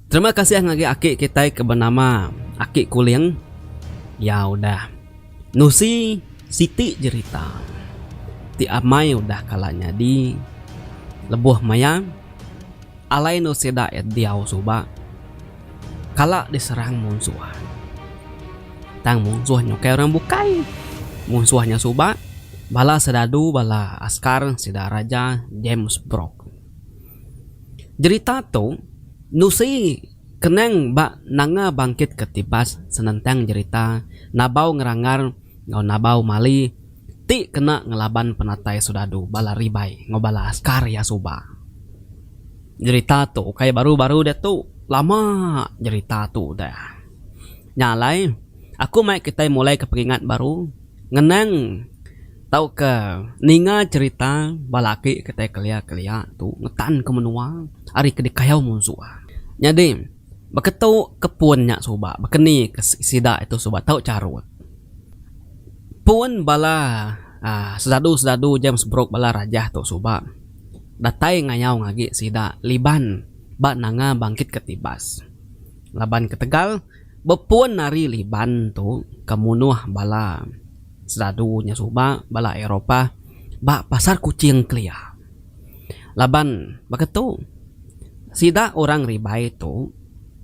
Terima kasih ngagai aki kitai ke benama Aki Kuling. Iya udah nusi siti jerita ti amai udah kala nyadi lebuh maya. Alai endo sida iya diau suba kala diserang munsuh. Tang munsuh nya ukai orang bukai. Munsuh nya suba bala sedadu bala askar sida Raja James Brooke. Jerita tu nusi kenang ba Nanga Bangkit Ketibas senentang jerita Nabau Ngerangar enggau Nabau Mali. ti kena ngelaban penatai soldadu bala ribai enggau bala askar iya suba. Jerita tu ukai baru-baru diatu, lama jerita tu udah. Nya alai, aku mai kitai mulaika pengingat baru, ngenang tauka ninga jerita bala aki kitai kelia-kelia tu ngetanka menua ari ke dikayau munsuh. Nyadi. Baka tu ke pun nya suba bakani ke sida tu suba tau charut. Pun bala aaa sesadu-sesadu James Brooke bala rajah tu suba datai ngayau ngagi sida liban ba nanga bangkit ke tibas. Laban ketegal bepun ari liban tu ke munuh bala sesadu nya suba bala Eropah ba Pasar Kuching kelia. Laban baka tu, sida orang Ribai tu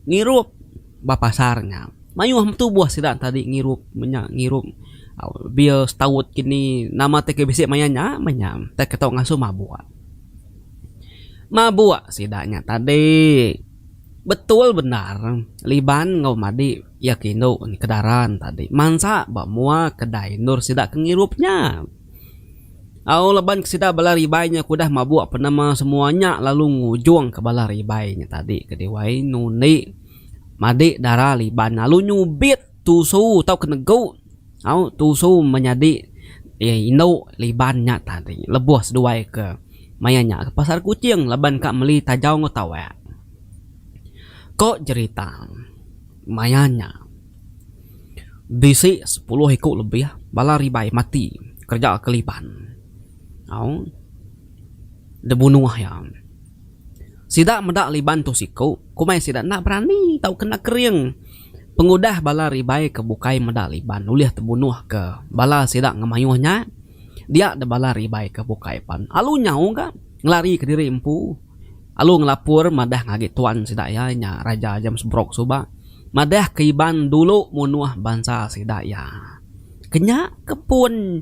ngirup ba pasar nya. Mayuh betubuh sida tadi ngirup menya ngirup bia setaut ke ni nama ti ke bisi maya nya meh nya ntai ke tau ngasuh mabuk. Mabuk sida nya tadi betul bendar Liban enggau Madi iya ke indu ke Daran tadi mansa ba mua kedai endur sida ke ngirup nya. Au laban ke sida bala ribai nya ke udah mabuk penema semua nya lalu ngujung ke bala ribai nya tadi ke diwai nundi madi dara liban lalu nyubit tusu tau ke negu au tusu menyadi iya indu liban nya tadi lebuh seduai ke maya nya ke pasar kuching laban ka meli tajau enggau tawek. Ko jerita maya nya. Bisi sepuluh iku lebih bala ribai mati kereja keliban au debunuh iya. Sida meda liban tu siku komai sida enda berani tauka enda kering pengudah bala ribai ke bukai meda liban ulih tebunuh ke bala sida ngemayuh nya dia de bala ribai ke bukai pan alu nyau ga ngelari ke diri empu. lalu ngelapur madah ngagi tuan sida iya nya Raja James Brooke suba madah ke Iban dulu munuh bansa sida iya. Kenya ke pun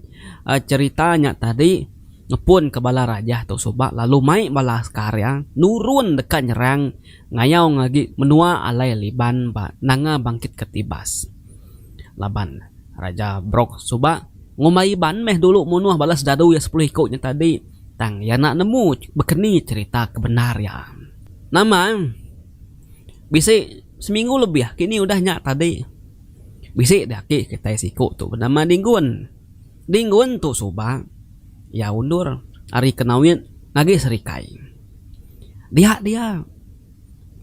cherita nya tadi ngepun ke bala raja tu suba lalu mai bala askar iya nurun deka nyerang ngayau ngagi menua alai Liban ba Nanga Bangkit ke Tibas. Laban Raja Brooke suba ngumbai Iban meh dulu munuh bala sedadu iya sepuluh iku nya tadi. Tang iya enda nemu bekeni cherita ke bendar iya. Nama? Bisi seminggu lebih kini udah nya tadi. Bisi di aki kitai siku tu benama Dinggun. Dinggun tu suba iya undur ari Kenawit ngagi Serikai. Dia dia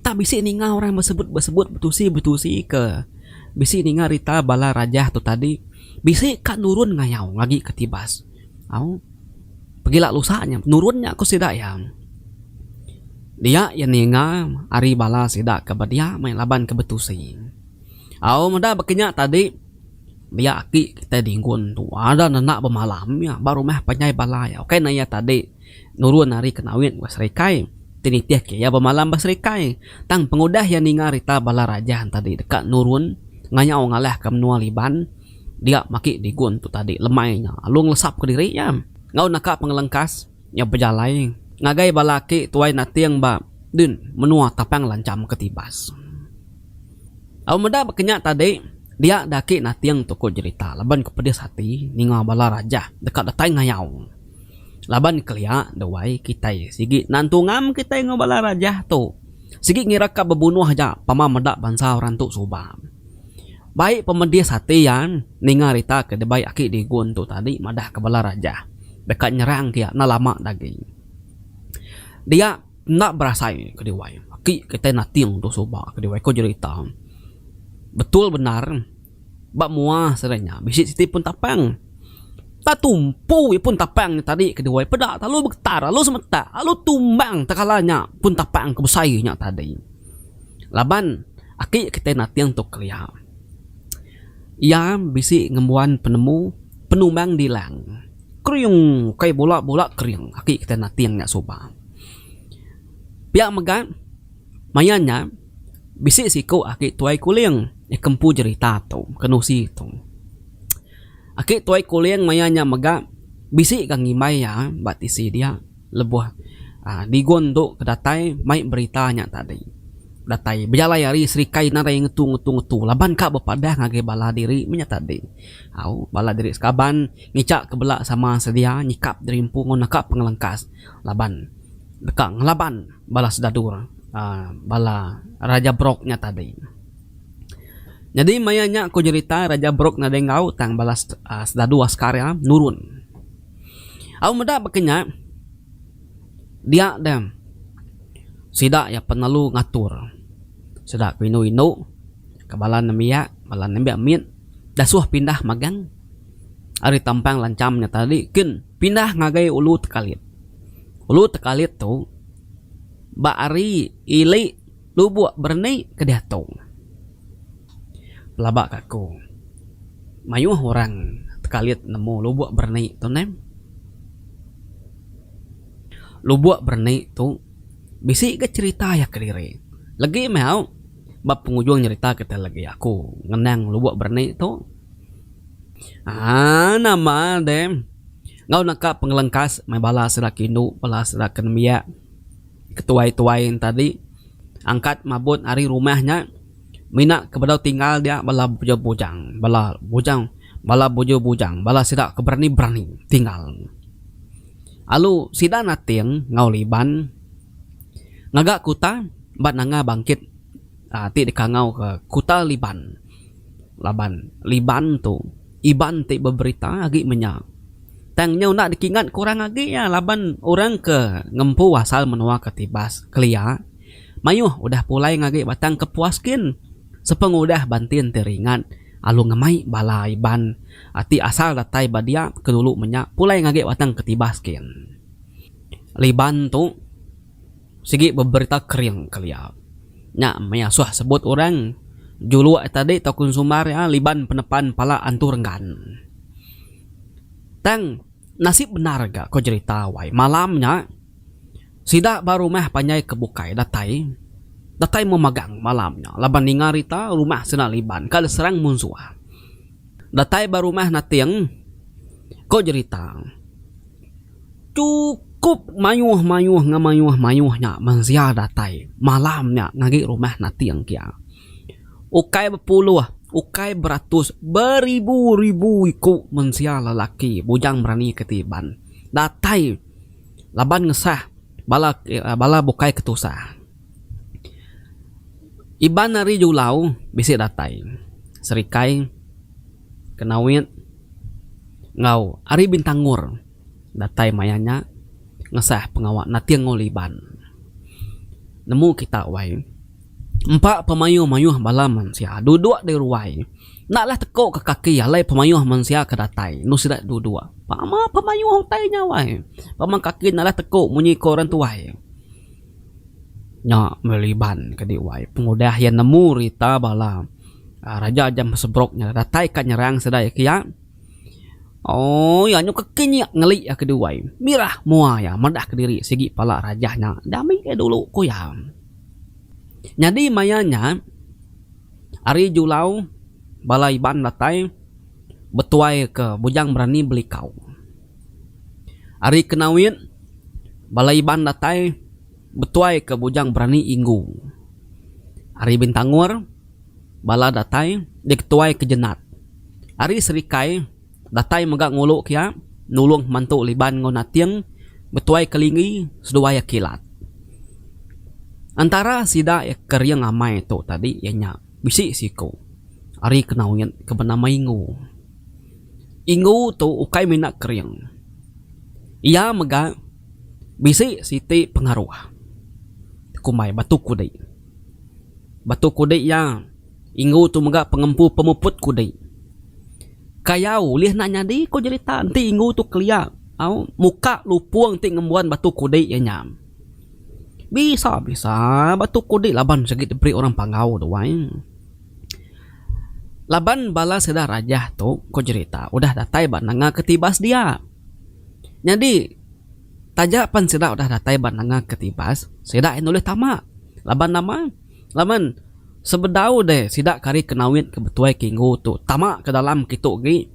enda bisi ninga orang besebut-besebut betusi-betusi ke bisi ninga rita bala rajah tu tadi bisi ka nurun ngayau ngagi ke Tibas. Au. Pegila lusa nya, penurun nya ku sida iya. Dia iya ninga ari bala sida ke bedia meh laban ke betusi. Au meda baka nya tadi, dia aki kitai Dingun tu ada nenda bemalam iya ba rumah panjai bala iya. Ukai ne iya tadi nurun ari Kenawit ngau Serikai ti nitihka iya bemalam ba Serikai. Tang pengudah iya ninga rita bala raja tadi deka nurun ngayau ngalahka menua Liban. dia maki digun tu tadi lemai nya lalu ngelesap ke diri nya enggau naka pengelengkas nya bejalai ngagai bala aki tuai nating ba din menua tapang lancham ke tibas. Au meda ba kenya tadi dia da aki nating tu ku jerita laban ku pedis ati ninga bala rajah deka datai ngayau laban kelia duai kitai sigi nan tungam kitai enggau bala rajah tu sigi ngira ka bebunuh aja pama meda bansa orang tu suba. Bai pemedis ati iya ninga rita ke dibai aki Digun tu tadi madah ke bala raja deka nyerang ke iya enda lama ke agi. Dia enda berasai ke diwai aki kitai Nating tu suba ke diwai ko jerita. Betul bendar ba mua sida nya bisi siti pun tapang. Enda tumpu iya pun tapang nya tadi ke diwai peda lalu begetar lalu semetak lalu tumbang tekala nya pun tapang ke besai nya tadi. Laban aki kitai nating tu kelia. Iya bisi ngembuan penemu penumbang dilang. Kering ukai bula bula kering aki kitai nating nya suba. Pia mega maya nya bisi siku aki tuai kuling nya ke empu jerita tu ke nusi tu. Aki tuai kuling maya nya mega bisi ga ngimbai iya ba tisi dia. Lebuh Digon tu ke datai mai berita nya tadi. Datai bejalai ari Serikai nadai ngetu ngetu ngetu laban ka bepadah ngagai bala diri meh nya tadi. Au bala diri sekaban ngicha ke bela sama sedia nyikap diri empu enggau naka pengelengkas laban deka ngelaban bala sedadur uhh bala Raja Brok nya tadi. Nyadi maya nya ku nyerita Raja Brok nadai enggau tang bala sedadur askar iya nurun. Au meda baka nya, dia dia sida iya penelu ngatur sida ku indu indu ke bala nembiak bala nembiak mit dasuh pindah magang ari tampang lancham nya tadi kin pindah ngagai ulu tekalit. Ulu tekalit tu ba ari ili Lubuk berni ke diatu. Pelaba ka aku. Mayuh orang tekalit nemu lubuk berni tu neh. Lubuk berni tu bisi ga cherita iya kediri. Legi meh au ba pengujung nyerita kitai legi aku ngenang lubuk berni tu. Aaa nama deh enggau naka pengelengkas meh bala sida ke indu bala sida ke nembiak. ketuai-tuai tadi angkat mabut ari rumah nya mina ke bedau tinggal dia bala bujang-bujang bala bujang bala bujur-bujang bala sida ke berani-berani tinggal lalu sida nating enggau liban ngaga kuta ba nanga bangkit ti dikangau ke kuta liban laban liban tu. Iban ti beberita agi menya. Tang nyau enda dikingat ke orang agi iya laban orang ke ngempu asal menua ke Tibas, kelia, mayuh udah pulai ngagi batang kepuas gin sepengudah bantin ti ringat alu ngemai bala Iban ti asal datai ba dia ke dulu menya pulai ngagi batang ke Tibas gin. Liban tu. Sigi beberita kering kelia nya maya suah sebut orang juluk tadi tau consumer iya liban penepan pala antu renggan. Tang nasib bendar ga ko jerita wai malam nya sida ba rumah panjai ke bukai datai datai memagang malam nya laban ninga rita rumah sida liban ka diserang munsuh datai ba rumah nating ko jerita. Chukup mayuh-mayuh enggau mayuh-mayuh nya mensia datai malam nya ngagi rumah nating kia. Ukai bepuluh, ukai beratus, beribu-ribu iku mensia lelaki bujang berani ke ti Iban datai laban ngesah bala bala bukai ke tusah. Iban ari Julau bisi datai serikai. Kenawit enggau Ari Bintangor datai maya nya ngesah pengawa Nating Ngol Iban. Nemu kita wai empa pemayuh-mayuh bala mensia duduk di ruai enda leh teko ke kaki alai pemayuh mensia ke datai enu sida duduk. Pama pemayuh utai nya wai. Pama kaki enda leh teko munyi ko orang tuai. Nya meh Iban kadi wai pengudah iya nemu rita bala. Raja jam sebrok nya datai ka nyerang sidai ke iya. Ooi anyu ke king iya ngeli iya ke duai. Mirah mua iya madah kediri sigi pala raja nya dami iya dulu ku iya. Nyadi maya nya ari julau bala Iban datai betuai ke Bujang Berani Belikau. Ari kena win bala Iban datai. Betuai ke bujang berani inggu. Ari Bintangor bala datai diketuai ke Jenat. Ari Serikai datai mega ngulu ke iya nulung pemantu Liban enggau Nating betuai ke Lingi seduai iya kilat. Entara sida iya ke riang amai tu tadi iya nya bisi siku ari Kenaut ke benama Inggu. Inggu tu ukai mina kering. Iya mega. Bisi siti pengaruh kumbai Batu Kudi. Batu Kudi iya inggu tu mega pengempu pemuput kudi. Kayau ulih enda nyadi ku jerita enti inggu tu kelia au muka lupung ti ngembuan Batu Kudi iya nya. Bisa-bisa Batu Kudi laban sigi diberi orang Panggau tu ai. Laban bala sida rajah tu ku jerita udah datai ba nanga ke tiba sedia. Nyadi taja pan sida udah datai ba nanga ke tibas sida ain ulih tama laban nama laban sebedau deh sida ke ari Kenoit ke Betuai ke Inggu tu tama ke dalam kitu gi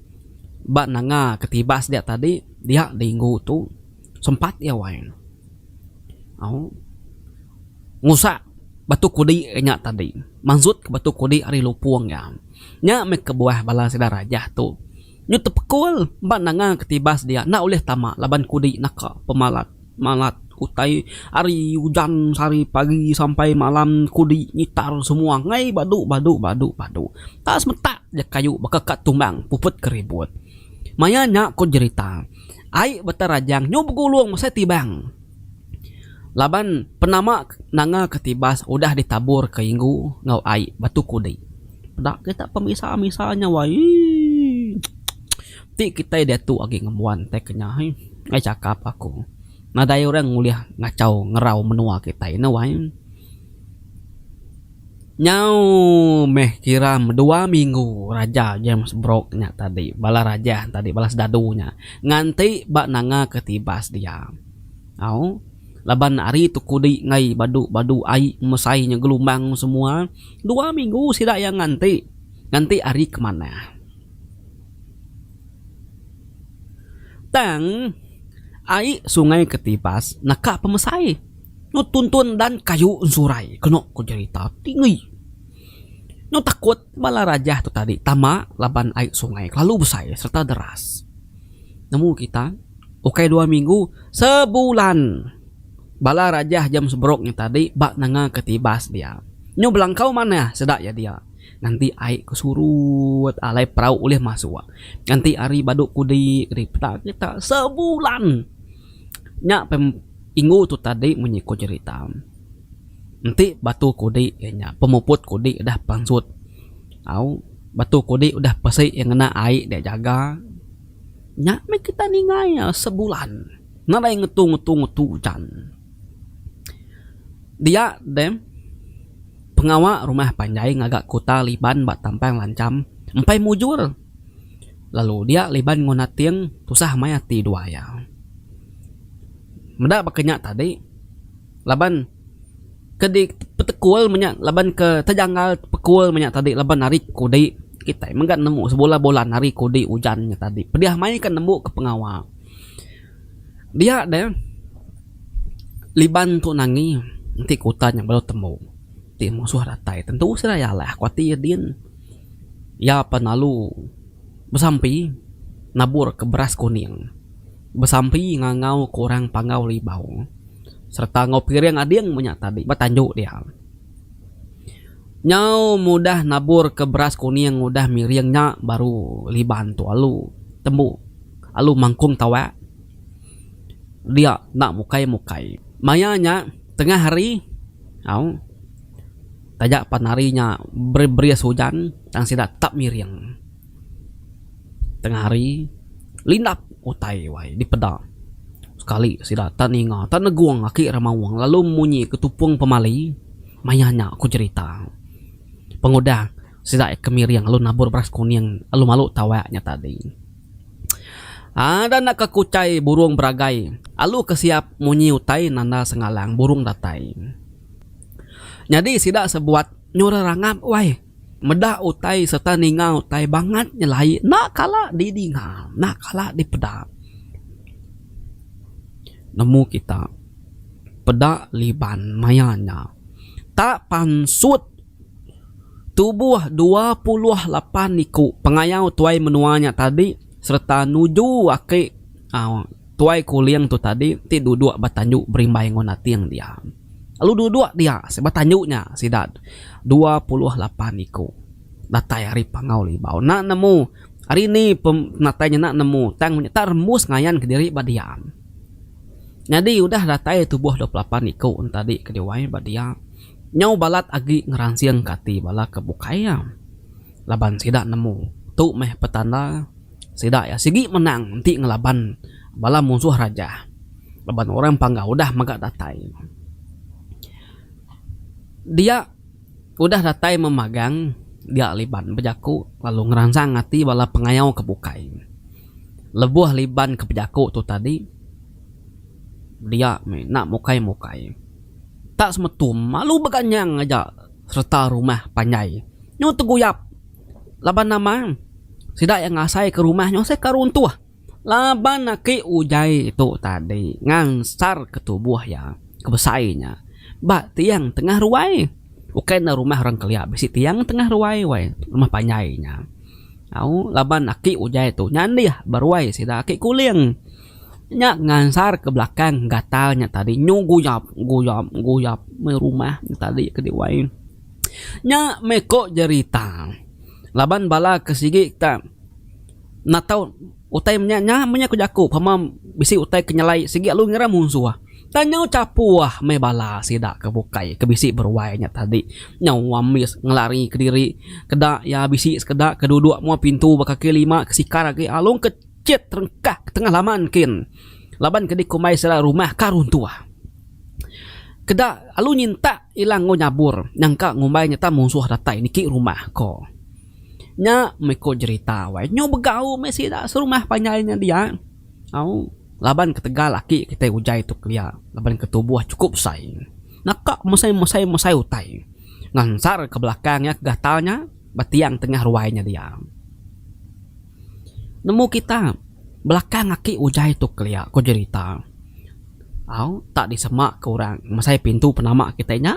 ba nanga ke tibas dia tadi dia di Inggu tu sempat iya wai au ngusak batu kudi ke nya tadi mansut ke batu kudi ari lupong iya nya meh kebuah bala sida Rajah tu. Nyu tepekul ba nanga ketibas dia enda ulih tama laban kudi naka pemalat malat utai ari ujan sehari pagi sampai malam kudi ngitar semua angai badu badu badu badu enda semetak ja kayu baka ka tumbang puput ke ribut. Maya nya ku jerita ai Batarajang nyu begulung mesai tibang. Laban penama nanga ke tibas udah ditabur ke inggu enggau ai batu kudi. Peda kita pemisa-misa nya wai ii. Ti kitai diatu agi ngembuan tai ke nya ii. Ai chakap aku. Nadai orang ulih ngachau ngerau menua kitai ne wai. Nyau meh kira dua minggu raja James Brooke nya tadi bala raja tadi bala sedadu nya nganti ba nanga ke tibas dia. Au laban ari tu kudi enggai badu badu ai mesai inya gelumbang semua dua minggu sida iya nganti. Nganti ari ke manah. Tang ai sungai ke tibas naka pemesai. Nyu tuntun dan kayu ensurai kenu ku jerita ti ngui. Nyu takut bala rajah tu tadi tama laban ai sungai kelalu besai serta deras. Nemu kita ukai dua minggu sebulan bala rajah jam seberuk nya tadi ba nanga ke tibas dia. Nyu belangkau manah seda iya dia nganti ai ke surut alai perau ulih masuk nganti ari badu kudi kedi peda kita sebulan. Nya pen ingu tu tadi munyi ku jerita enti batu kudi iya nya pemuput kudi udah pansut au batu kudi udah pesi iya ngena ai dia jaga nya meh kita ninga iya sebulan nadai ngetu ngetu ngetu ujan. Dia deh pengawa rumah panjai ngaga kuta Liban ba Tampang Lancham empai mujur. lalu dia liban enggau nating tusah maya ati dua iya. Meda baka nya tadi laban ke dipetekul menya laban ke tejanggal pekul menya tadi laban ari kudi kitai mega nemu sebulan bulan ari kudi ujan nya tadi pedih maya ke nembu ke pengawa dia deh liban tu nangi enti ke utan nya baru tembu ti musuh datai tentu seraya lah aku ati ya din. Iya pan lalu besampi naburka beras kuning besampi ngangauka orang Panggau Libau sereta enggau piring ading meh nya tadi ba tandu dia. Nyau meh udah naburka beras kuning udah miring nya baru Liban tu alu tembu alu mangkung tawak dia enda mukai-mukai. Maya nya tengah hari au. Taja pan hari nya beris ujan tang sida tetap ngiring. Tengah hari, lindap utai wai dipeda. Sekali sida tak ninga tak negung aki Remaung lalu munyi ke tupung pemali, Maya nya ku jerita. Pengudah sida ke miring lalu nabur beras kuning lalu malu tawak nya tadi. Ada naka ke utai burung beragai lalu ke siap munyi utai nanda sengalang burung datai. Nyadi sida sebuat nyuruh rangap wai meda utai sereta ninga utai bangat nyelai enda kala didinga enda kala dipeda. Nemu kita peda liban maya nya tak pansut tubuh dua puluh lapan iku pengayau tuai menua nya tadi sereta nuju aki uhh Tuai Kuling tu tadi ti duduk ba tanju berimbai enggau nating dia. Lalu duduk dia ba tanju nya sida dua puluh lapan iku datai ari Pangau Libau enda nemu ari ni penatai nya enda nemu tang inya tak rembus ngayan kediri ba dia. Nyadi udah datai tubuh dua puluh lapan iku nya tadi ke diwai ba dia nyau balat agi ngeransingka ati bala ke bukai iya laban sida nemu tu meh petanda Sida iya sigi menang enti ngelaban bala munsuh raja laban orang pangga udah mega datai. Dia udah datai memagang dia Liban bejaku lalu ngeransang ati bala pengayau ke bukai. Lebuh Liban ke bejaku tu tadi, dia meh enda mukai-mukai. Tak semetum lalu beganyang aja sereta rumah panjai nyu teguyap. Laban nama? Sida iya ngasaika rumah nyusahka runtuh laban aki ujaie tu tadi ngansarka tubuh iya ke besai nya ba tiang tengah ruai. Ukai enda rumah orang kelia bisi tiang tengah ruai wai rumah panjai nya. Au laban aki ujai tu nyandih ba ruai sida aki kuling nya ngansarka belakang gatal nya tadi nyu guyap guyap guyap meh rumah nya tadi ke diwai. Nya meh ko jerita laban bala ke sigi tak natau utai menya nya meh nya ku jaku pama bisi utai ke nyelai sigi alu ngira munsuh tang nyau chapuh meh bala sida ke bukai ke bisi beruai nya tadi nyau ambis ngelari kediri keda iya bisi sekeda ke dudok muat pintu ba kaki lima ke sikar agi alung ke chit rengkah ke tengah laman kin laban ke dikumbai sida rumah ka runtuh. Keda lalu nyintak ila enggau nyabur nyangka ngumbai nyata munsuh datai niki rumah ko. Nya meh ko jerita wai nyu begau meh sida serumah panjai nya dia au laban ketegal aki kitai ujai tu kelia laban ke tubuh chukup besai naka mesai mesai mesai utai ngansar ke belakang iya ke gatal nya. ba tiang tengah ruai nya diam. Nemu kita belakang aki Ujai tu kelia, ko Jerita. Au, tak disemaka orang mesai pintu penama kitai nya.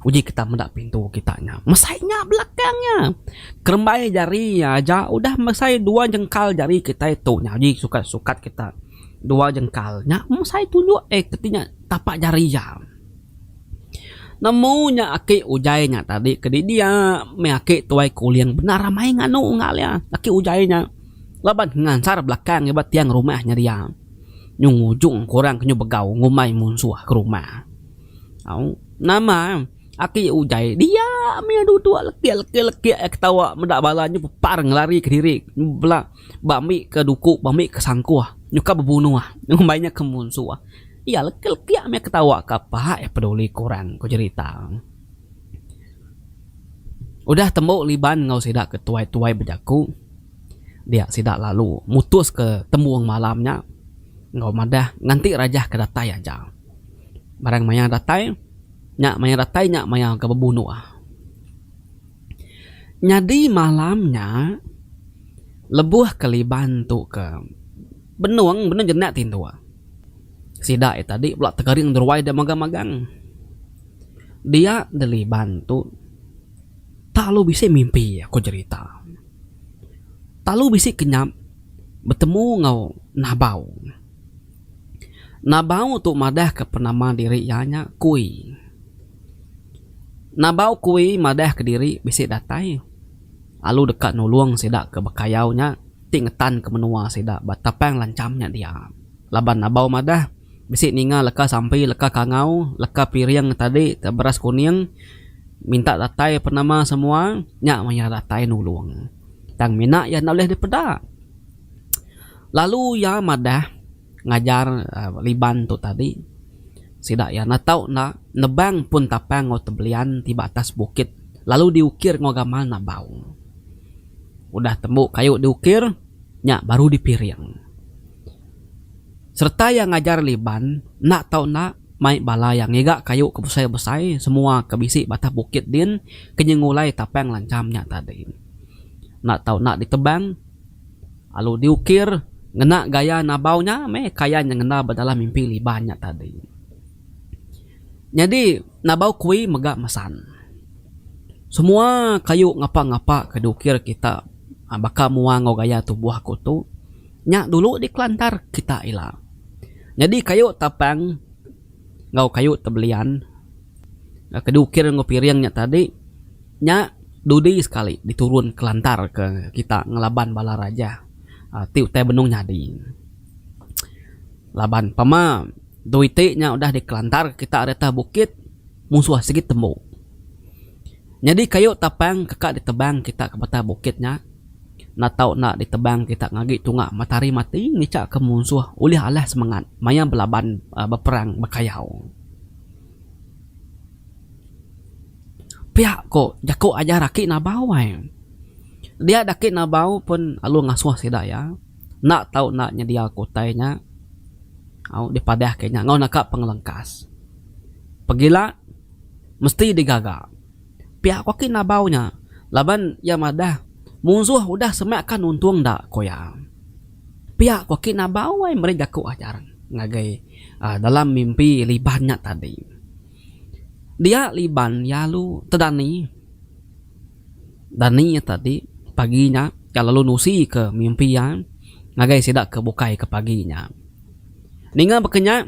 Uji kita meda pintu kita nya. Mesai nya belakang nya. Kerembai jari aja udah mesai dua jengkal jari kitai tu nya uji sukat sukat kita. Dua jengkal nya mesai tunjuk eh keti nya tapak jari iya. Nemu nya aki ujaie nya tadi ke didi iya meh aki tuai kuling bendar amai nganu enggau iya aki ujaie nya laban ngansar belakang iya ba tiang rumah nya dia nyung ngujung kurang ke nyau begau ngumbai munsuh ke rumah au nama aki ujaie dia meh iya duduk lekik lekik lekik iya ketawa meda bala nyau pepar ngelari kediri bela ba mbi ke duku ba mbi ke sangkuh nyukap bebunuh ngumbai nya ke munsuh. Iya leka-leka meh ketawa ka pai peduli kurang, ku jerita. Udah tembu liban enggau sida ke tuai-tuai bejaku, dia sida lalu mutuska tembung malam nya enggau madah nganti Rajah ke datai aja. Barang maya datai nya maya datai nya maya ke bebunuh. Nyadi malam nya lebuh ke liban tu ke benung, benung jenak tinduk. Sida iya tadi pula tengering deruai dek magang-magang. Dia deliban tu tak lalu bisi mimpi aku jerita. Tak lalu bisi kenyap betemu enggau Nabau. Nabau tu madah ke penama diri iya nya Kui. Nabau Kui madah ke diri bisi datai lalu deka nulung sida ke bekayau nya. ti ngetan ke menua sida ba tapang lancham nya dia. Laban Abau madah, bisi ninga leka sampi, leka kangau, leka piring tadi ke beras kuning minta datai penama semua nya maya datai nulung. Tang mina iya enda ulih dipeda. Lalu iya madah. ngajar Liban tu tadi sida iya enda tau enda nebang pun tapang enggau tebelian ti ba atas bukit lalu diukir enggau gamal nabau. Udah tembu kayu diukir nya baru dipiring. Sereta iya ngajar Liban enda tau enda mai bala iya ngiga kayu ke besai-besai semua ke bisi ba atas bukit din ke nyengulai tapang lancham nya tadi. Enda tau enda ditebang. Alu diukir ngena gaya nabau nya meh kaya nya ngena ba dalam mimpi Liban nya tadi. Nyadi nabau kui mega mesan. Semua kayu ngapa-ngapa ke diukir kita baka mua enggau gaya tubuh aku tu nya dulu dikelantar kita ila. Nyadi kayu tapang enggau kayu tebelian ke diukir enggau piring nya tadi. Nya dudi sekali diturun kelantar ke kita ngelaban bala raja ti utai benung nyadi. Laban pama dui ti nya udah dikelantar ke kita ari atas bukit musuh sigi tembu. Nyadi kayu tapang ke ka ditebang kita ke batang bukit nya enda tau enda ditebang kita ngagi tunga matahari mati ngica ke musuh ulih alah semangat maya belaban beperang bekayau. Pia ko jako ajar aki nabau ai. Dia dak aki nabau pun lalu ngasuh sida iya enda tau enda nyedia ko utai nya au dipadah ke nya enggau naka pengelengkas. Pegila mesti digaga. Pia ko aki nabau nya laban iya madah munsuh udah semak ka nuntung enda ko iya. Pia ko kina ba wai meri jaku ajar ngagai dalam mimpi Liban nya tadi. Dia Liban lalu tedani. Dani iya tadi pagi nya iya lalu nusi ke mimpi iya ngagai sida ke bukai ke pagi nya. Ninga baka nya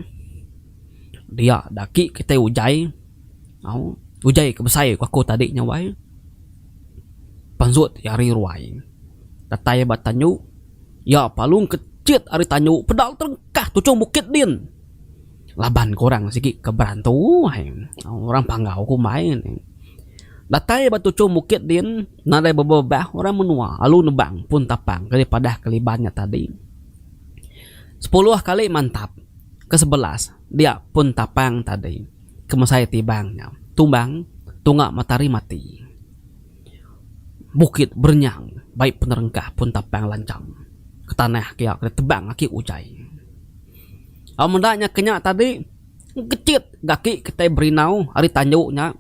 dia agi kitai ujai. Au ujai ke besai aku tadi nya wai. Panzut ti ari ruai datai ba tanyu iya palung ke chit ari tanyu peda lalu terengkah tuchung bukit din laban ke orang sigi ke berantu ai orang panggau ke umbai ne datai ba tuchung bukit din nadai bebebah orang menua lalu nebang pun tapang ke dipadah ke liban nya tadi sepuluh kali mantap ke sebelas dia pun tapang tadi. Kemesai tibang nya. Tumbang, Tunga matahari mati. Bukit berenyang bai penerengkah pun tapang lancham ke tanah kia ke ditebang aki ujai. Au meda nya ke nya tadi engkechit ga aki kitai berindau ari tanju nya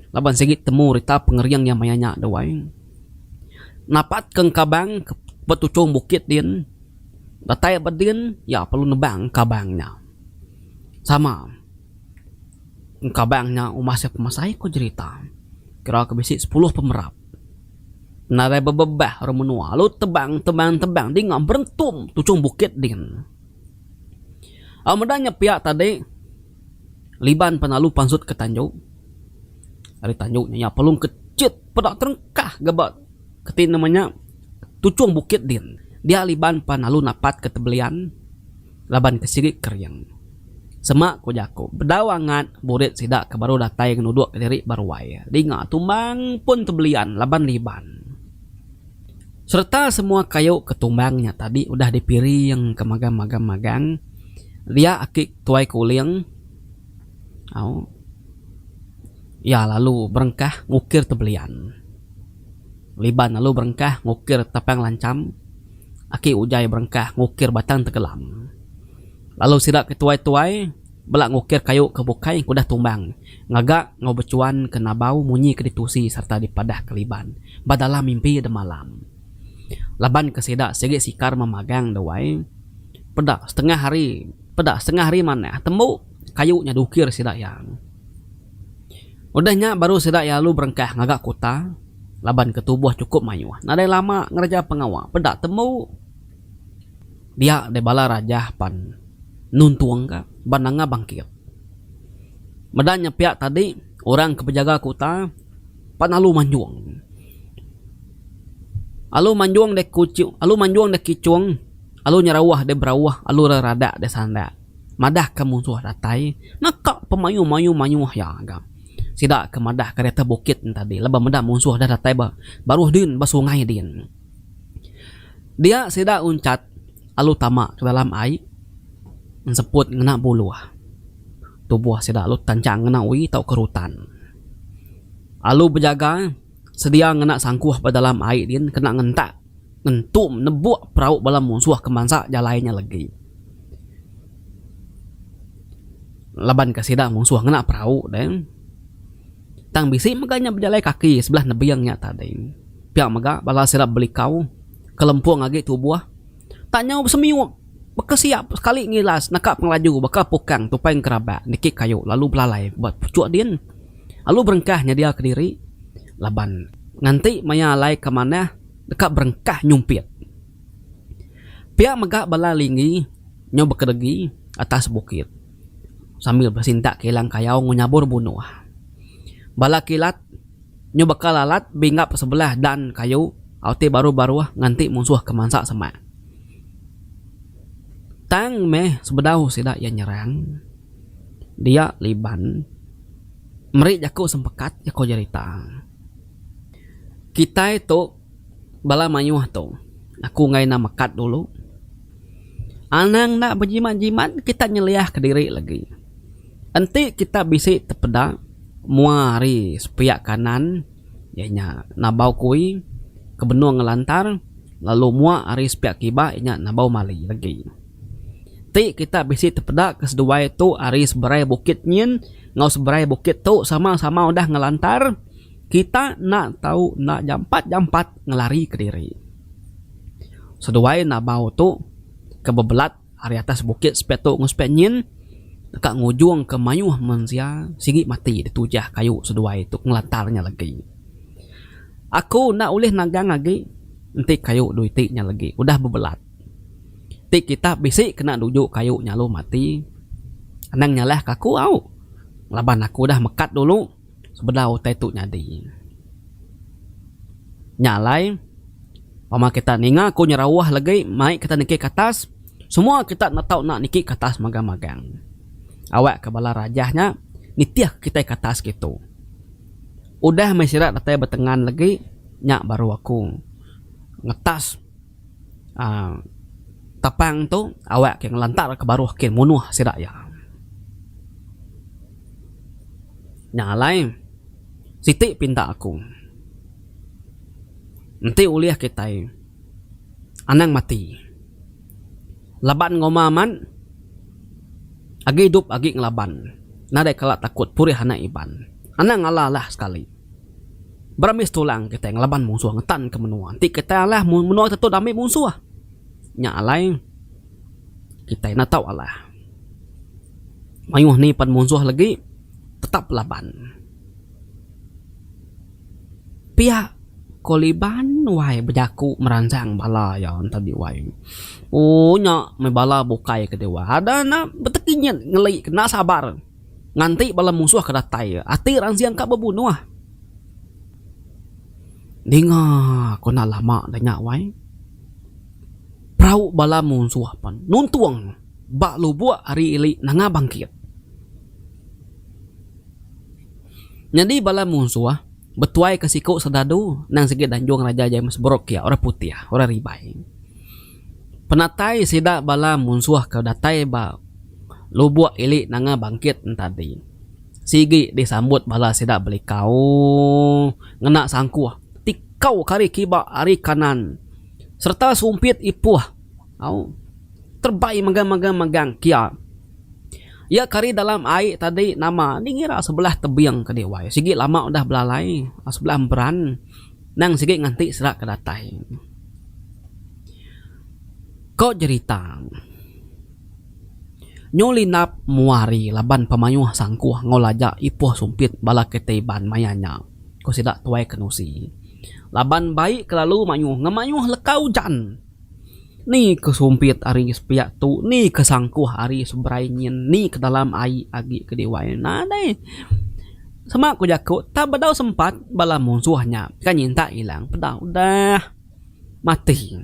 laban sigi temu rita pengering iya maya nya dau ai. Napat ke engkabang ke petuchong bukit din datai ba din iya perlu nebang engkabang nya. Sama. Engkabang nya umbah sia pemasai ko jerita kira ke bisi sepuluh pemerap nadai bebebah orang menua lalu tebang tebang tebang dinga berentum tuchung bukit din. Au meda nya pia tadi liban penalu pansut ke tanju ari tanju nya iya pelung ke chit peda terengkah ga ba keti nama nya tuchung bukit din dia liban penalu napat ke tebelian. laban ke sigi kering. Semak ku jaku, bedau angat burit sida ke baru datai ngenuduk ke diri ba ruai, dinga tumbang pun tebelian laban liban. Sereta semua kayu ke tumbang nya tadi udah dipiring ke magam-magam magang dia aki tuai ke uling au iya lalu berengkah ngukir tebelian. Liban lalu berengkah ngukir tapang lancham. Aki Ujai berengkah ngukir batang tengkelam. Lalu sida ke tuai-tuai bela ngukir kayu ke bukai engku udah tumbang ngaga enggau bechuan ke nabau munyi ke ditusi sereta dipadah ke liban ba dalam mimpi demalam. Laban ke sida sigi sikar memagang dewai, peda setengah hari peda setengah hari manah tembu kayu nya diukir sida iya. Udah nya baru sida iya alu berengkah ngaga kuta laban ke tubuh chukup mayuh. Nadai lama ngereja pengawa peda tembu dia deh bala rajah pan nuntung ka ba nanga bangkit. Meda nya pia tadi orang ke bejaga kuta pan alu manjung. Alu manjung deh kuchu alu manjung deh kichung alu nyerauh deh berauh alu reradak deh sandak. madahka munsuh datai neka pemayuh-mayuh mayuh iya ga. Sida ke madahka di atas bukit nya tadi laban meda munsuh dah datai ba baruh din ba sungai din. Dia sida uncat lalu tama ke dalam ai enseput ngena buluh tubuh sida lalu tanchang ngena uii tauka rutan lalu bejaga. Sedia ngena sangkuh ba dalam ai din kena ngentak ngentum nebuk perau bala munsuh ke mansa jalai nya legi. Laban ke sida munsuh ngena perau deh. Tang bisi mega nya bejalai kaki sebelah nebing nya tadi. Pia mega bala sida belikau ke lempung agi tubuh. tak nyau besemiup baka sia sekali ngilas naka pengelaju baka pukang tupai ngerabak niki kayu lalu belalai ba puchuk din lalu berengkah nyedia kediri laban nganti maya alai ke manah deka berengkah nyumpit pia mega bala lingi nyau bekedegi atas bukit sambil besintak kilang kayau ngu nyabur bunuh bala kilat. Nyu bekal alat binggap sebelah dan kayu au ti baruh baruh nganti munsuh ke mansa semak. Tang meh sebedau sida iya nyerang dia Liban meri jaku sempekat, jaku jerita. Kitai tu. Bala mayuh tu, aku enggai enda mekat dulu. Anang enda bejimat-jimat, kita nyeliahka diri lagi. Enti kita bisi tepeda mua ari sepiak kanan iya nya Nabau Kui ke benung ngelantar lalu mua ari sepiak kiba iya nya Nabau Mali lagi. Ti kita bisi tepeda ke seduai tu ari seberai bukit nyin enggau seberai bukit tu sama-sama udah ngelantar Kita enda tau enda jampat-jampat ngelarika diri. Seduai Nabau tu ke bebelat ari atas bukit sepiatu enggau sepiak nyin deka ngujungka mayuh mensia sigi mati ditujah kayu seduai tu ngelantar nya legi. Aku enda ulih nagang agi enti kayu dui ti nya legi udah bebelat. Ti kita bisi kena nuju kayu nya lalu mati anang nyalahka aku au laban aku udah mekat dulu. sebedau utai tu nyadi. Nya alai, pama kita ninga aku nyerauh legi mai kita niki katas, semua kita enda tau enda niki katas magang-magang. Awakka bala rajah nya nitihka kitai katas kitu. Udah meh sida datai betengan legi, nya baru aku ngetas uhh tapang tu awakka ngelantarka baruh ke munuh sida iya. Nya alai, siti pinta aku. Enti ulih kitai, anang mati. Laban ngoma amat, agi idup agi ngelaban. Nadai kala takut purih anak Iban. Anang alah alah sekali. Berambis tulang kitai ngelaban munsuh ngetanka menua. Enti kitai alah, menua tetu dah ambi munsuh. Nya alai, kitai enda tau alah. Mayuh ni pan munsuh legi tetap laban. Pia ko Liban wai bejaku meransang bala iya enta di wai. Ooh nya meh bala bukai ke diwai ada enda betegi nyat ngeli ke enda sabar nganti bala munsuh ke datai ati ransing ka bebunuh. Dinga ko enda lama nya wai. Perau bala munsuh pen nuntung ba lubuk ari ili nanga bangkit. Nyadi bala munsuh betuai ke siku sedadu endang sigi danjung Raja James Brooke iya orang putih, orang ribai. Penatai sida bala munsuh ke datai ba lubuk ili nanga bangkit en tadi sigi disambut bala sida belikau ngena sangkuh ti kau ke ari kiba ari kanan. sereta sumpit ipuh au terbai megang-megang megang kia ia kari dalam ai tadi nama nih ngira sebelah tebing ke diwai sigi lama udah belalai sebelah emperan nang sigi nganti sera ke datai ko jerita nyu linap mua hari laban pemayuh sangkuh enggau laja ipuh sumpit bala kitai iban maya nya ko sida tuai kenusi. Laban baik kelalu mayuh ngemayuh leka ujan. Ni ke sumpit ari sepiak tu, ni ke sangkuh ari seberai nyin, ni ke dalam ai agi ke diwai nadai. Sema ku jaku, tang bedau sempat bala munsuh nya ka nyintak ilang peda udah mati.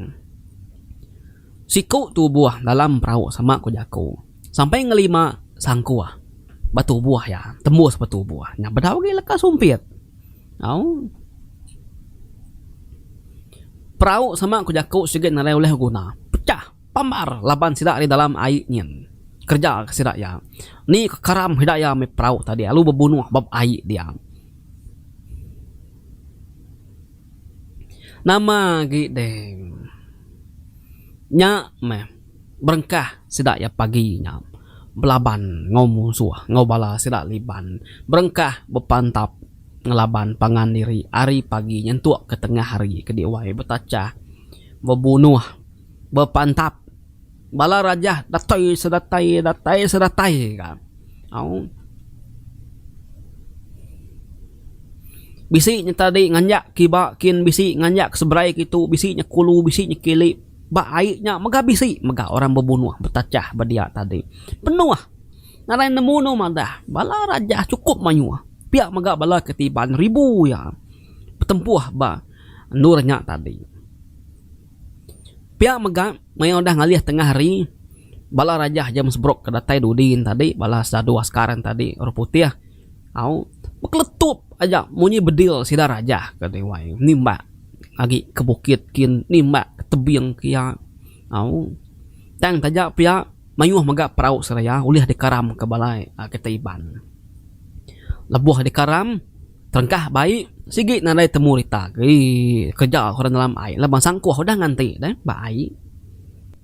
Siku tubuh dalam perau sema ku jaku, sampai ngelima sangkuh ba tubuh iya, tembus ba tubuh nya bedau agi leka sumpit. Au. Perau sama ku jaku sigi nadai ulih beguna. Pecah. Pambar laban sida ari dalam ai nyin. Kereja ka sida iya. Ni ka karam sida iya meh perau tadi lalu bebunuh ba ai dia. Nama agi deh. Nya meh. Berengkah sida iya pagi nya belaban enggau munsuh enggau bala sida Liban berengkah bepantap ngelaban pangan diri ari pagi nyentuk ke tengah hari ke diwai betachah bebunuh bepantap bala raja datai sedatai datai sedatai ka au bisi nya tadi nganjak kiba kin bisi nganjak seberai kitu bisi nya kulu bisi nya kili. Ba ai nya mega bisi mega orang bebunuh betachah ba dia tadi. Penuh ngagai nemu anu madah bala raja chukup mayuh pia mega bala ketiban ribu iya betempuh ba endur nya tadi. Pia mega maya udah ngalih tengah hari bala raja James Brooke ke datai dudi yen tadi bala sadu askar yen tadi orang putih. Au bekeletup aja munyi bedil sida raja ke Dewan nimbak agi ke bukit kin nimbak ke tebing ke iya. Au tang taja pia mayuh mega perau seraya ulih dikaram ke bala kitai Iban. Lebuh dikaram terengkah bai sigi nadai temu rita agi kereja ke orang dalam ai laban sangkuh udah nganti deh ba ai.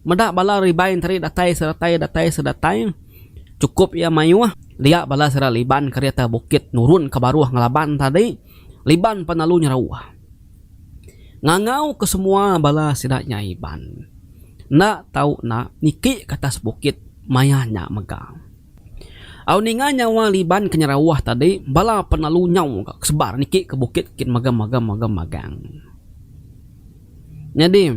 Meda bala Iban tadi datai sedatai datai sedatai. Chukup iya mayuh, dia bala sida Liban kereta bukit nurun ke baruh ngelaban tadi, Liban pan lalu nyerauh. Ngangau ke semua bala sida nya Iban. Enda tau enda, niki ke atas bukit maya nya mega. Au ninga nyawa Liban ke nyerauh tadi, bala pan lalu nyau ga ke sebar niki ke bukit kin megang-megang-megang-megang. Nyadi,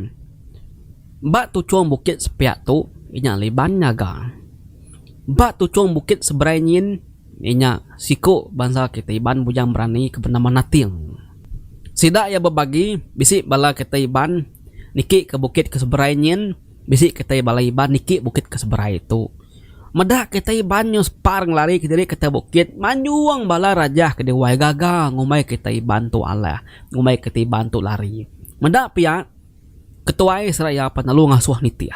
ba tuchung bukit sepiak tu inya Liban nyaga. Ba tuchung bukit seberai nyin inya siku bansa kitai Iban bujang berani ke benama Nating. Sida iya bebagi bisi bala kitai Iban niki ke bukit ke seberai nyin, bisi kitai bala Iban niki bukit ke seberai tu. Meda kitai ban nyuspar ngelarika diri ke atas bukit, manjung bala raja ke diwai gaga ngumbai kitai ban tu alah, ngumbai kitai ban tu lari. Meda pia, ketuai seraya pan lalu ngasuh nitih.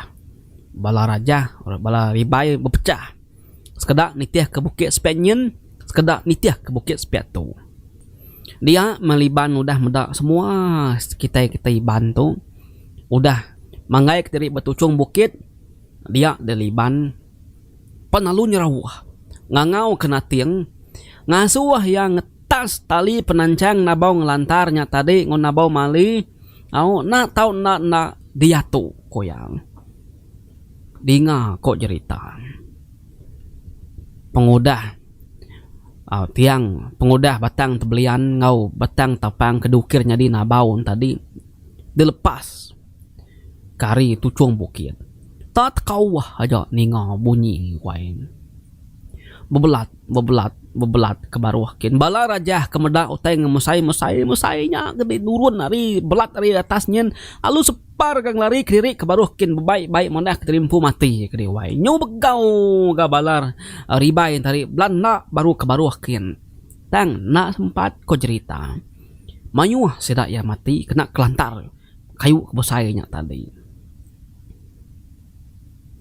Bala raja, bala ribai bepechah. Sekeda nitihka bukit sepiak nyin, sekeda nitihka bukit sepiak tu. Dia meh Liban udah meda semua kitai-kitai Iban tu udah manggaika diri ba tuchung bukit. dia diliban pan lalu nyerauh ngangau ke nating ngasuh iya ngetas tali penanchang nabau ngelantar nya tadi enggau nabau mali au enda tau enda enda diatu ku iya dinga ko jerita pengudah au tiang pengudah batang tebelian enggau batang tapang ke dukir nyadi nabau tadi dilepas. kari tuchung bukit. Tak tekauah aja ninga bunyi wai. Bebelat, bebelat, bebelat ke baruh kin bala rajah ke meda utai ngemesai mesai mesai nya kenti nurun ari belat ari atas nyin lalu separ ka ngelari kediri ke baruh kin bebai bai manah keterimpu mati kedi wai. Nyu begau ga bala ribai enti ari belat enda baru ke baruh kin. Tang enda sempat ko jerita. Mayuh sida iya mati kena kelantar. kayu ke besai nya tadi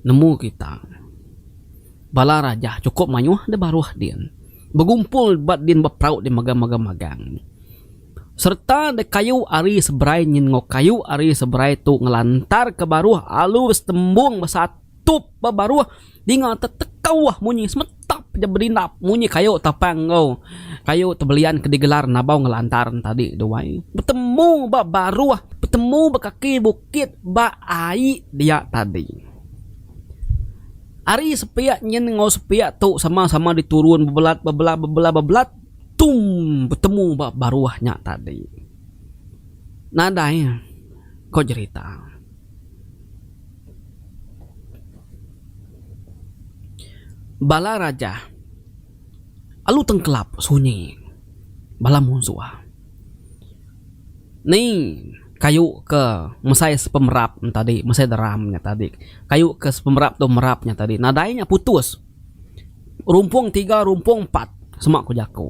nemu kita bala raja chukup mayuh deh baruh din begumpul ba din beperau din mega mega magang sereta deh kayu ari seberai nyin enggau kayu ari seberai tu ngelantar ke baruh alur setembung besatup ba baruh. Dinga tetekauh munyi semetap ja berindap munyi kayu tapang enggau kayu tebelian ke digelar Nabau Ngelantar enti tadi tu ai. Betemu ba baruh, betemu ba kaki bukit ba ai dia tadi. Ari sepiak nyin enggau sepiak tu sama-sama diturun bebelat bebelat bebelat bebelat tum betemu ba baruh nya tadi. Nadai ko jerita. Bala raja alu tengkelap sunyi bala munsuh ni kayu ke mesai sepemerap tadi mesai deram nya tadi kayu ke sepemerap tu merap nya tadi nadai nya putus. Rumpung tiga rumpung empat sema ku jaku.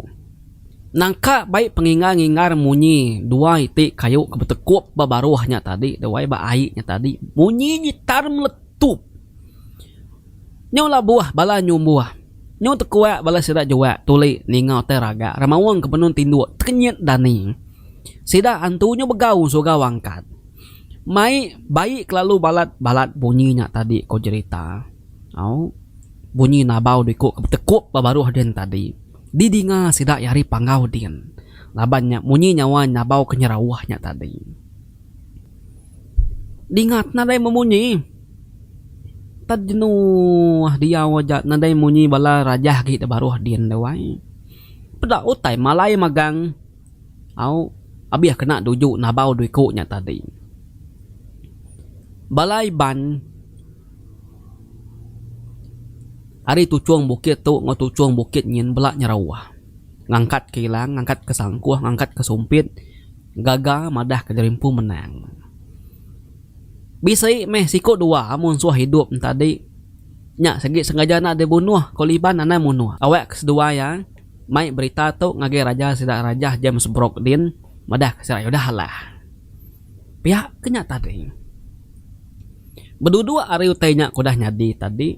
Nangka bai pengingar-ngingar munyi dua iti kayu ke betekup ba baruh nya tadi wai ba ai nya tadi munyi nyitar meletup. Nyau labuh bala nyumbuh nyau tekuak bala sida jua tuli ninga utai raga remaung ke benung tinduk tekenyit dani. Sida antu nyau begau surau angkat. Mai bai kelalu balat-balat bunyi nya tadi ku jerita. Au, bunyi nabau diku ke betekup ba baruh din tadi didinga sida iya ari panggau din laban nya munyi nyawa nabau ke nyerauh nya tadi dingat nadai bemunyi. Tad jenuh diau aja nadai munyi bala rajah agi da baruh din tu ai. Peda utai malai magang. Au, abih kena duju nabau diku nya tadi. Bala Iban. Ari tuchung bukit tu enggau tuchung bukit nyin bela nyerauh. Ngangkat ke ilang, ngangkat ke sangkuh, ngangkat ke sumpit gaga madah ke jerimpu menang. Bisi meh siku dua munsuh idup entadi nya sigi sengaja enda deh bunuh ko Liban anang munuh. Awak ke seduwa iya mai berita tu ngagai raja sida Rajah James Brooke Dean madah ke sida iya udah alah. Pia ke nya tadi. Beduduk ari utai nya ke udah nyadi tadi,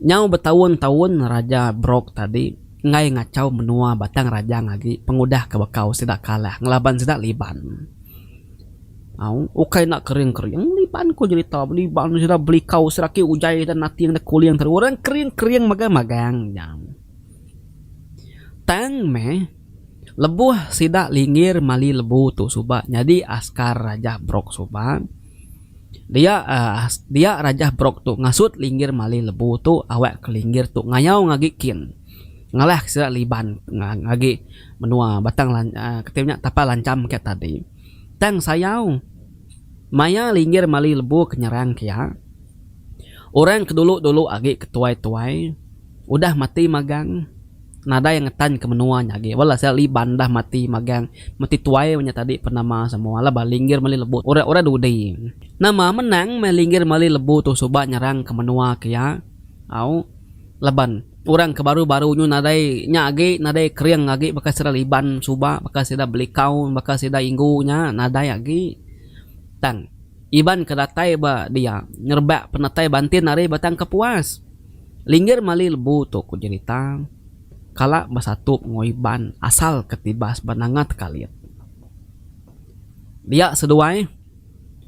nyau betaun-taun Raja Brok tadi enggai ngachau menua Batang Rajang agi pengudah ke bekau sida kalah ngelaban sida Liban. Au, ukai enda kering-kering, Liban ku jerita be Liban tu sida belikau sida agi ujai dan nating da kuling tadi. Orang kering-kering magang-magang nya. Tang meh. Lebuh sida linggir mali lebu tu suba nyadi askar Rajah Brooke suba, dia dia Rajah Brooke tu ngasut linggir mali lebu tu awakka linggir tu ngayau ngagi kin ngalahka sida liban agi menua Batang Lancham kati nya Tapal Lancham kiya tadi. Tang sayau maya linggir mali lebu ke nyerang kiya, Orang ke dulu-dulu agi ke tuai-tuai udah mati magang nadai ngetanka menua nya agi. Wela sia Liban dah mati magang mati tuai inya tadi pun nama semua laban Linggir Meli Lebu tu orang-orang dudi. Nama menang meh Linggir Meli Lebu tu suba nyerangka menua ke iya au laban orang ke baru-baru nyu nadai nya agi nadai kering agi baka sida Liban suba baka sida Belikau baka sida Inggu nya nadai agi tang. Iban ke datai ba dia ngerebak penatai bantin ari Batang Kepuas. Linggir mali lebu tu ku jerita, kala besatup enggau Iban asal ke tibas ba Nanga Tekalit. Dia seduai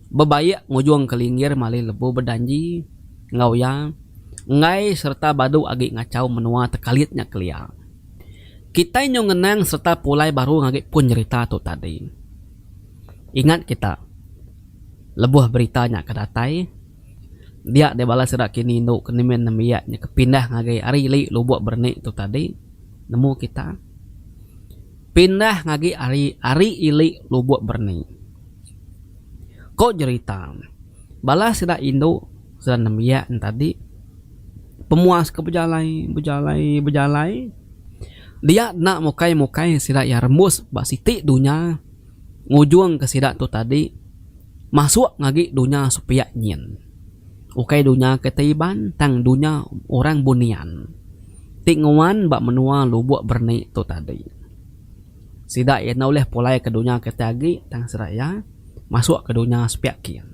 bebaik ngujung ke Linggir mali lebu bejanji enggau iya enggai sereta badu agi ngachau menua Tekalit nya kelia. Kitai nyau ngenang sereta pulai baru agi pun jerita tu tadi. Ingat kita, lebuh berita nya ke datai, dia deh bala sida kini indu ke nimin nembiak nya ke pindah ngagai ari li lubuk bernik tu tadi, nemu kita, pindah ngagi ari ari ili lubuk bernik. Ko jerita, bala sida indu, sida nembiak nya tadi, pemuas ke bejalai, bejalai, bejalai, dia enda mukai-mukai sida iya rembus ba siti dunya. ngujungka sida tu tadi masuk ngagi dunya sepiak nyin. Ukai dunya ke ti Iban tang dunya orang Bunian ti nguan ba menua Lubok Berni tu tadi. Sida iya enda ulih pulai ke dunya ke ti agi tang sida iya masuk ke dunya sepiak kin.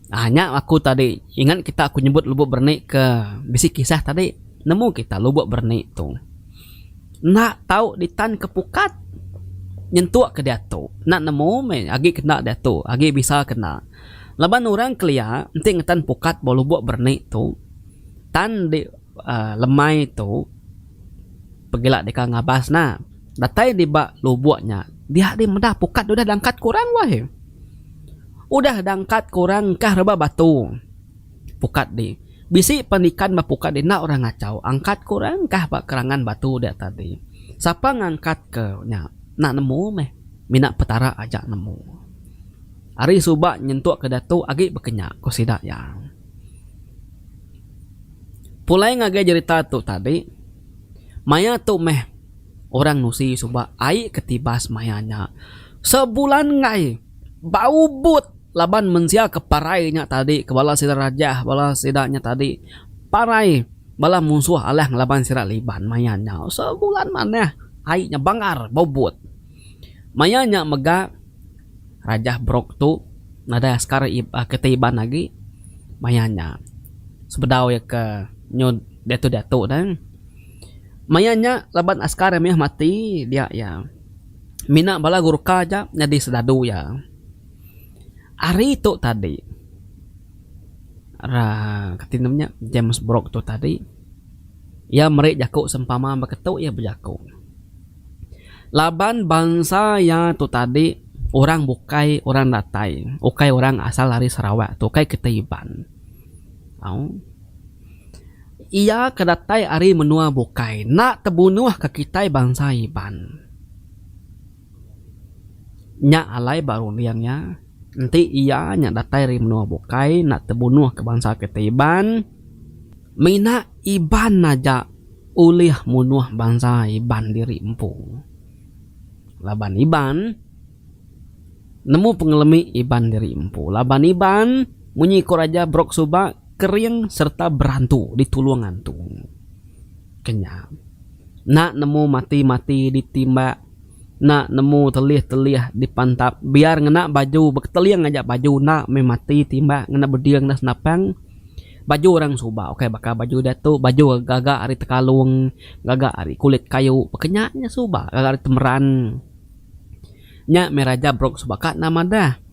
Aaa nya aku tadi ingat kita aku nyebut lubok berani ke bisi kisah tadi nemu kita lubok berani tu enda tau ditan ke pukat nyentuk ke diatu enda nemu meh agi kena diatu agi bisa kena laban orang kelia enti ngetan pukat ba lubok berani tu tan di. Lemai tu pegila deka ngabas na. Datai di ba lubok nya dia deh meda pukat udah dangkat kurang wah eh. Udah dangkat kurang engkah rebah batu pukat di. Bisi pen ikan ba pukat di enda orang ngachau angkat kurang engkah ba kerangan batu dia tadi. Sapa ngangkat ke nya enda nemu meh mina petara aja nemu. Ari suba nyentuk ke diatu agi bekenya ku sida iya. Pulai ngagai jerita tu tadi, maya tu meh orang nusi suba ai ke tibas maya nya. Sebulan enggai ba Ubud laban mensia ke parai nya tadi ke bala sida Rajah bala sida nya tadi parai bala munsuh Alang laban sida Liban maya nya. Sebulan manah ai nya bangar ba Ubud. Maya nya mega. Rajah Brooke tu nadai askar keti Iban agi maya nya sebedau iya ke nyu diatu diatu ne maya nya laban askar iya mih mati dia iya mina bala Gurkha aja nyadi serdadu iya hari tu tadi uhh kati nama nya James Brooke tu tadi iya meri jaku sempama ba ketu iya bejaku. Laban bansa iya tu tadi orang bukai orang datai, ukai orang asal ari Sarawak tu ukai kitai Iban. Au. Iya ke datai ari menua bukai enda tebunuh ke kitai bansa Iban. Nya alai ba runding iya. Enti iya nya datai ari menua bukai enda tebunuh ke bansa kitai Iban. Mina Iban aja ulih munuh bansa Iban diri empu. Laban Iban nemu pengelemi Iban diri empu. Laban Iban munyi ko raja Brok suba kering serta berantu ditulung antu. Kenyang. Enda nemu mati-mati ditimbak. enda nemu telih telih di pantap biar ngena baju beketeling aja baju enda meh mati timbak ngena beding enda senapang baju orang suba ukai baka baju diatu baju gaga ari tekalong gaga ari kulit kayu pa ke nya nya suba gaga ari temeran nya meh raja brok suba ka enda madah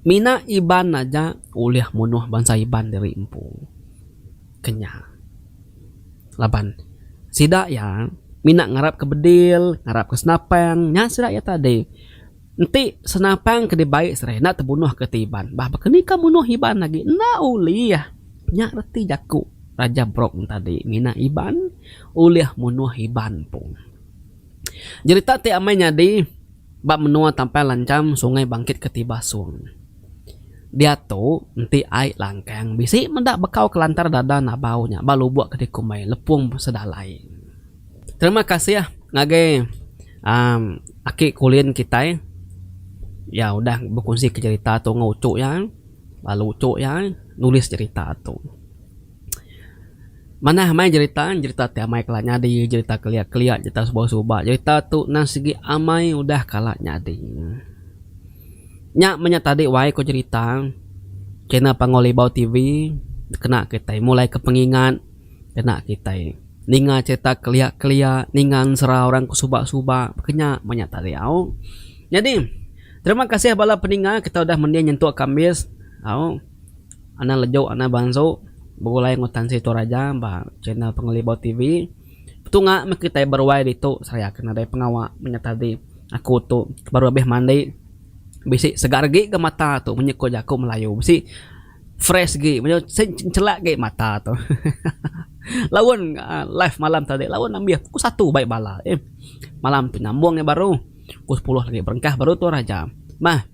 mina iban aja ulih munuh bansa iban diri empu. ke nya laban sida iya mina ngarap ke bedil ngarap ke senapang nya sida iya tadi enti senapang ke dibai sida enda tebunuh ke ti iban bah baka ni ka bunuh iban agi enda ulih nya reti jaku raja brong tadi mina iban ulih munuh iban pun. Jerita ti amai nyadi ba menua Tampang Lanjam Sungai Bangkit Ketiba Song. Diatu enti ai langkang bisi meda bekau kelantar dada nabau nya ba lubok ke dikumbai Lepung Sedalai. Terima kasih ngagai uhh aki Kulin kitai iya udah bekunsi ke jerita tu enggau uchu iya lalu uchu iya nulis jerita tu. Manah amai jerita, jerita ti amai kala nyadi, jerita kelia-kelia, jerita suba-suba. Jerita tu nan sigi amai udah kala nyadi. Nya meh nya tadi wai ku jerita. Channel Pango Libau TV kena kitai mulaika pengingat, kena kitai ninga jerita kelia-kelia, ninga ensera orang ke suba-suba. Ke nya meh nya tadi au. Nyadi, terima kasih bala peninga kitai udah mending nyentuk kambis au. Anang lejuk anang bansu begulai enggau Tan Sri Toraja ba channel Pengelibau TV. Betunga meh kitai beruai ditu seraya ke nadai pengawa menyat adi. Aku tu baru abih mandi bisi segar agi ga mata tu menyit ku jaku Melayu bisi fresh agi menyau sien chelak agi mata tu. Laun live malam tadi laun ambih pukul satu bai bala eh. Malam ti nyambung lagi baru pukul sepuluh lagi berengkah baru Toraja. Meh.